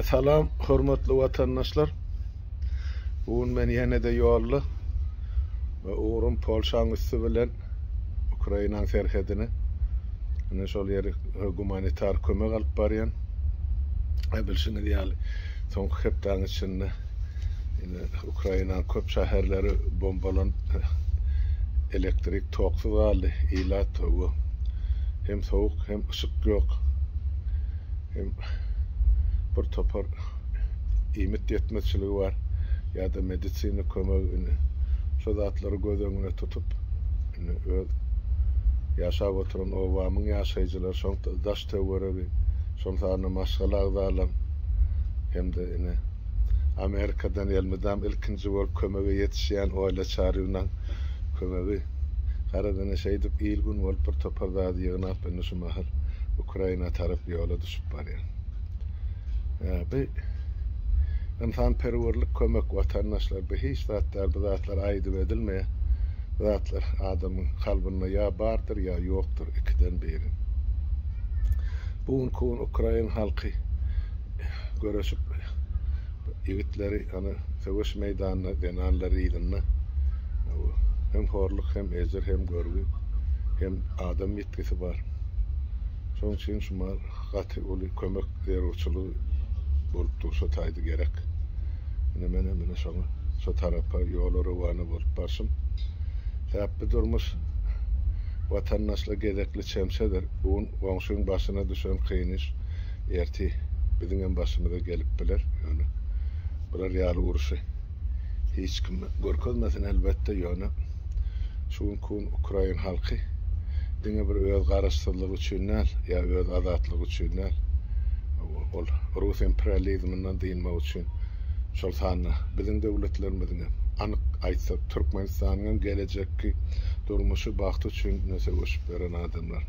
Salam hormatly watandaşlar. Bu gün men ýene-de ýolda we ugrum Polşaň üsti bilen Ukrainaň serhedine. Ine şol ýeri gumanitar kömek alyp barýan. E, bilşiňiz ýaly, soňky hepdäň içinde ine Ukrainaň köp şäherleri bombalanyp elektrik Toksyz galdy ilat togu. Hem sowuk hem yşyk ýok. Hem bir topar iýmit ýetmezçiligi bar ýada medisina kömegi indi şo zatlary göz öňüne tutup indi öz ýaşap oturan obamyň ýaşaýjylary şoňta daş töweregi şol sanda maşgala agzalam hem de indi Amerikadan elmydam ilkinji bolup kömege ýetişýän Oýla Çaryýewnaň kömegi. Garaz, ine, şeýdip il-gün bolup bir topar zady ýygnap, indi şu mahal Ukraina tarap ýola düşüp barýan. Ýa, bi ynsanperwerlik kömek, watandaşlar, bi hiç zat däl, bu zatlar aýdyp edilmeýär. Bu zatlar adamyň kalbynda ýa bardyr, ýa ýokdur, ikiden biri. Bu günki gün ukrain halky göreşip ýigitleri ony söweş meýdanyna zenanlary yzynda hem horluk hem ejir hem görgi hem adam ýitgisi bar şoň üçin şuma gaty uly kömek zerurçylygy bolup dur şo taýda gerek ine men hem ine şoňa şo tarapa ýola rowana bolup barşym täpbi durmuş watandaşla gezekli çemçedir un goňşyň başyna düşen kyn iş Erti biziň hem başymyza gelip biler. Ýöne bular ýaly uruşy hiç kim görkezmesin elbetde. Ýöne şu günki gün ukrain halky diňe bir öz garaşsyzlygy üçin däl, ýa öz azatlygy üçin däl, ol rus imperializminden dynmak üçin, şol sanda biziň döwletlerimiziň hem, anyk aýtsak, Türkmenistanyň hem gelejekki durmuşy, bagty üçin söweşip ýören adamlar.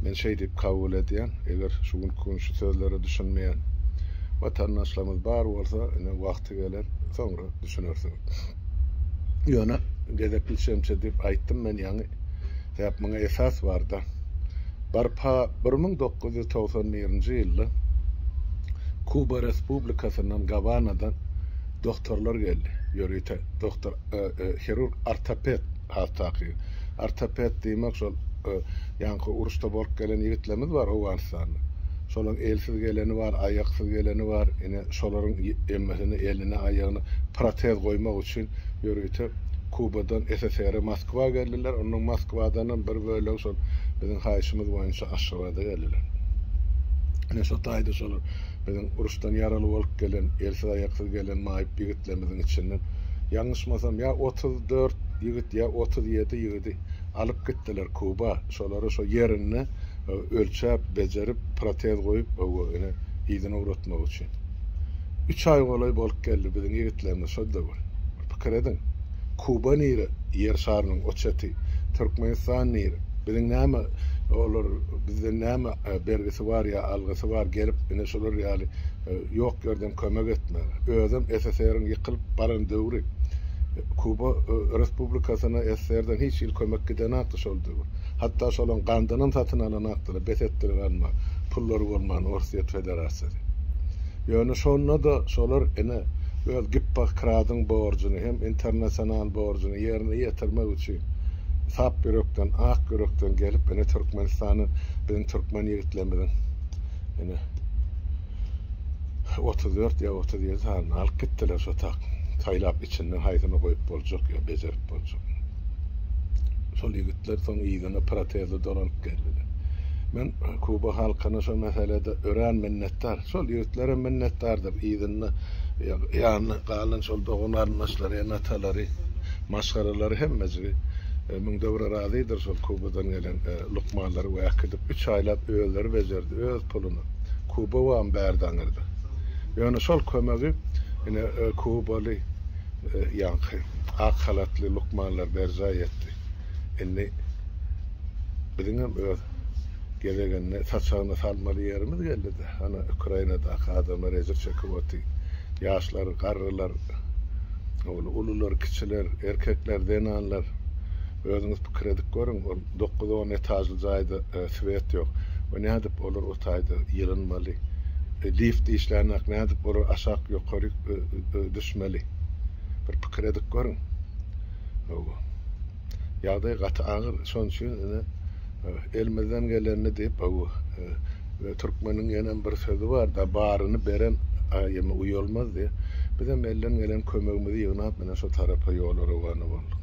Men şeý diýip kabul edýän, eger şu günki gün şu sözlere düşünmeýän watandaşlarymyz bar bolsa, ine wagty geler, soňra düşünersiňiz. Ýöne gezekli şemçe diýip aýtdym men ýaňy, sebäp muňa esas bar-da. Barpa bir müň dokuz ýüz togsan birinji ýylda Kuba Respublikasyndan Gawanadan doktorlar geldi, ýörite doktor, hirurg-ortoped. has takygy. Ortoped diýmek şol ýaňky uruşda bolup gelen ýigitlerimiz bar Owganystanda. Şolaryň elsiz geleni bar, aýaksyz geleni bar. Ine şolaryň emmesine eline, aýagyna protez goýmak üçin ýörite Kubadan SSR-e Moskwa geldiler. Ondan Moskwadanam bir bölegi şol biziň haýyşymyz boýunça Aşgabada geldiler. Ine şo taýda şolar biziň uruşdan ýaraly bolup gelen, elsiz-aýaksyz gelen maýyp ýigit ýigitlerimiziň içinden, ýalňyşmasam, ýa otuz dört ýigit, ýa otuz ýedi ýigidi alyp gitdiler Kuba. Şolary şo ýerinde ölçäp, bejerip, protez goýup, ine, yzyna ugratmak üçin. Üç aý golaý bolup geldi biziň ýigitlerimiz şol döwür. Bir pikir ediň, Kuba nire, Ýer şarynyň o çeti, Türkmenistan nire? Biziň näme, olar bizden näme bergisi bar ýa algysy bar, gelip, ine, şular ýaly Ýok ýerden kömek etmegi. Özem SSR-iň ýykylyp baran döwri. Kuba Respublikasyna SSR-den hiç hili kömek gidenakdy şol döwür. Hatda şolaň gandynam satyn alanakdylar, bes etdiler alma, pullary bolman Orsýet Federasiýasy. Ýöne şonda-da şolar ine öz Gippohkradyň borjuny hem internasional borjuny ýerine ýetirmek üçin sap ýürekden, ak ýürekden gelip ine Türkmenistany biziň türkmen ýigitlerimiziň Ine. 34 ýa 37 sanyny alyp gitdiler şo tak. Saýlap içinden haýsyny goýup boljak ýa bejerip boljak. Şol ýigitler soň yzyna protezli dolanyp geldiler. Men Kuba halkyna şo meselede örän minnetdar. Şol ýigitler hem minnetdardyr. Yzynda ýanyna galan şol dogan-garyndaşlary, ene-atalary, maşgalalary hemmejigi müňde bir razydyr şol Kubadan gelen Lukmanlary wäk edip, üç aýlap özleri bejerdi, öz puluny Kubawam bärdi aňyrda. Ýöne şol kömegi ine kubaly ýaňky ak halatly lukmanlar berjaý etdi. Indi biziňem öz gezeginde saçagyna salmaly ýerimiz geldi-dä. Ana, Ukrainadaky adamlar ejir çekip otyr. Ýaşlar, garrylar, ulular, kiçiler, erkekler, zenanlar. Özüňiz pikir edip görüň, ol dokuz on etažly jaýda swet ýok. We nädip olar o taýda ýylynmaly? Lift işlänok, nädip olar aşak ýokary düşmeli? Bir pikir edip görüň. Hawa. Ýagdaý gaty agyr, şonuň üçin ine elimizden gelenini diýip, hawa. Türkmeniň ýene bir sözi bar, da baryny beren aýymy uýalmaz diýip, bizem elden gelen kömegimizi ýygnap, ine şu tarapa ýola rowana bolduk.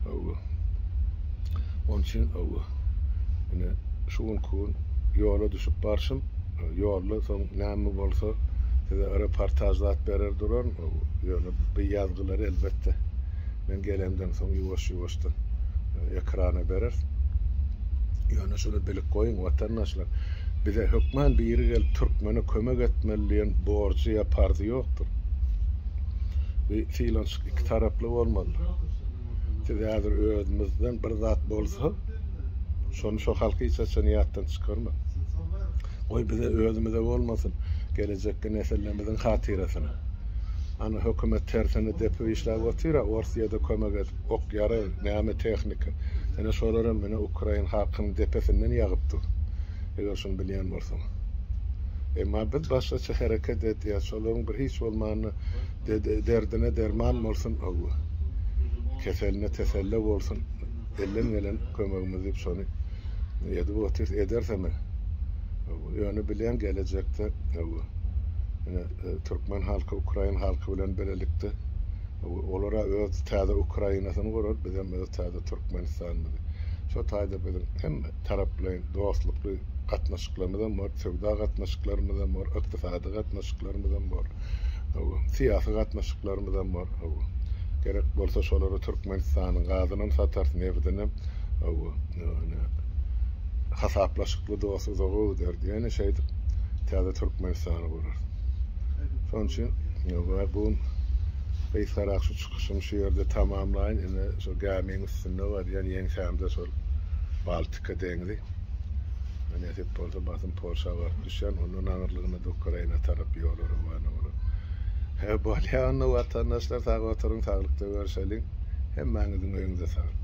Hawa. Onun üçin hawa. Ine şu gün gün ýola düşüp barşym, ýolda soň näme bolsa size reportaj zat berer duran, ýöne bu ýazgylar elbetde men gelemden soň ýuwaş-ýuwaşdan ekrana berer. Ýöne şuny bilip goýuň watandaşlar, bize hökman biri gelip türkmene kömek etmeli diýen borjy ýa parzy ýokdur. Bi filan Iki taraply bolmaly. Siz häzir özünizden bir zat bolsa, şony şu halky hiç haçan ýatdan çykarmaň. Goý bize özümize bolmasyn, gelejekki nesillerimiziň hatyrasyna. Ana hökümet tersine depip işläp otyra, Orsyýada kömek edip, ok ýarag, näme tehnika. Ene şolaram mine ukrain halkynyň depesinden ýagyp dur. Eger şuny bilýän bolsaň. Emma biz başgaça hereket edýäs. Şolaryň bir hiç bolmanda Derdine derman bolsun Öwez. Keseline teselle bolsun. Elden gelen kömegimiz diýip şony edip otyrys, ederis hem. Ýöne bileň gelejekde Öwez. Ine e, türkmen halky ukrain halky bilen birlikde olara öz täze Ukrainasyny gurar, biz hem öz täze Türkmenistanymyzy. Şu taýda biziň hem taraplaýyn dostlukly gatnaşyklarymyz hem bar, söwda gatnaşyklarymyz hem bar, ykdysady gatnaşyklarymyz hem bar. Syýasy gatnaşyklarymyzam bar. Gerek bolsa şolara Türkmenistanyň gazynam satarys, nebdinem hasaplaşykly dost-uzaga gider. Ýöne şeýdip täze Türkmenistany gurarys. Şonuň üçin bu gysgarak şu çykyşymy şu ýerde tamamlaýyn. Ine şu gämiň üstünde barýan ýeňsämde şol Baltika deňzi. Nesip bolsa basym Polşa baryp düşýän, ondan aňyrlygyna Ukraina tarap ýola rowana bolan. Hä, bolýa onda watandaşlar sag oturyň, saglykda görşeliň. Hemmäňiziň öýüňize saglyk.